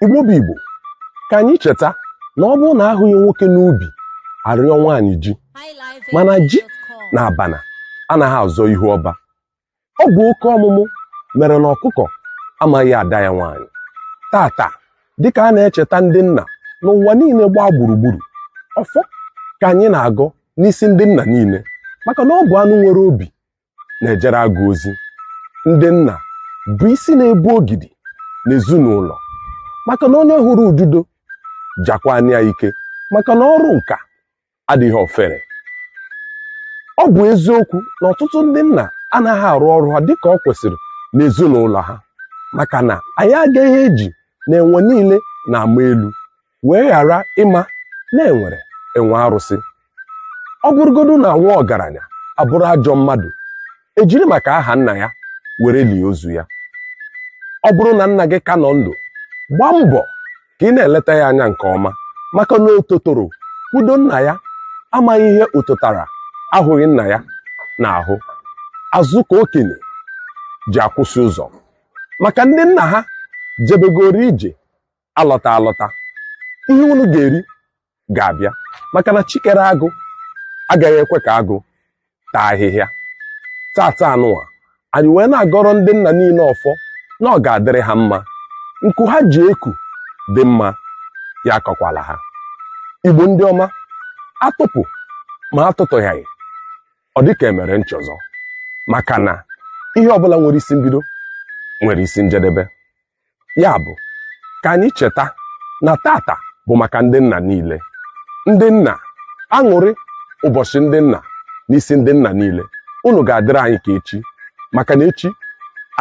igbo bụ igbo ka anyị cheta na ọ bụrụ na ahụghị nwoke n'ubi arịọ nwaanyị ji mana ji na abana anaghị azọ ihu ọba ọ bụ oke ọmụmụ mere na ọkụkọ amaghị ada ya nwaanyị tata dịka a na-echeta ndị nna n'ụwa niile gbaa gburugburu ọfọ ka anyị na-agọ n'isi ndị nna niile maka na ọ bụ anụ nwere obi na-ejere agụ ozi ndị nna bụ isi na-ebu ogidi n'ezinụlọ maka na onye hụrụ ududo jakwanụ ya ike maka na ọrụ nka adịghị ofere ọ bụ eziokwu na ọtụtụ ndị nna anaghị arụ ọrụ ha dịka ọ kwesịrị n'ezinụlọ ha maka na anyị agaghị eji na enwe niile na-ama elu wee ghara ịma na enwere enwe arụsị ọ bụrụgodu na nwa ọgaranya abụrụ ajọ mmadụ ejiri maka aha nna ya were lie ozu ya ọ bụrụ na nna gị ka nọ ndụ gbaa mbọ ka ị na-eleta ya anya nke ọma maka na ototoro kwudo nna ya amaghị ihe ototara ahụghị nna ya na-ahụ azụ ka okenye ji akwụsị ụzọ maka ndị nna ha jebegoro ije alọta alọta ihe unu ga-eri ga-abịa maka na chi kere agụ agaghị ekwe ka agụ taa ahịhịa tata anụwa anyị wee na-agọrọ ndị nna niile ọfọ na ọ ga-adịrị ha mma nku ha ji eku dị mma ya akọkwala ha igbo ndị ọma atụpụ ma atụtụghaghị ọ dịka emere nchọzọ maka na ihe ọbụla nwere isi mbido nwere isi njedebe ya bụ ka anyị cheta na tata bụ maka ndị nna niile ndị nna aṅụrị ụbọchị ndị nna n'isi ndị nna niile unu ga-adịrị anyị ka echi maka na echi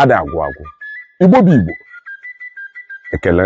ada agwụ agwụ igbo bụ igbo ekele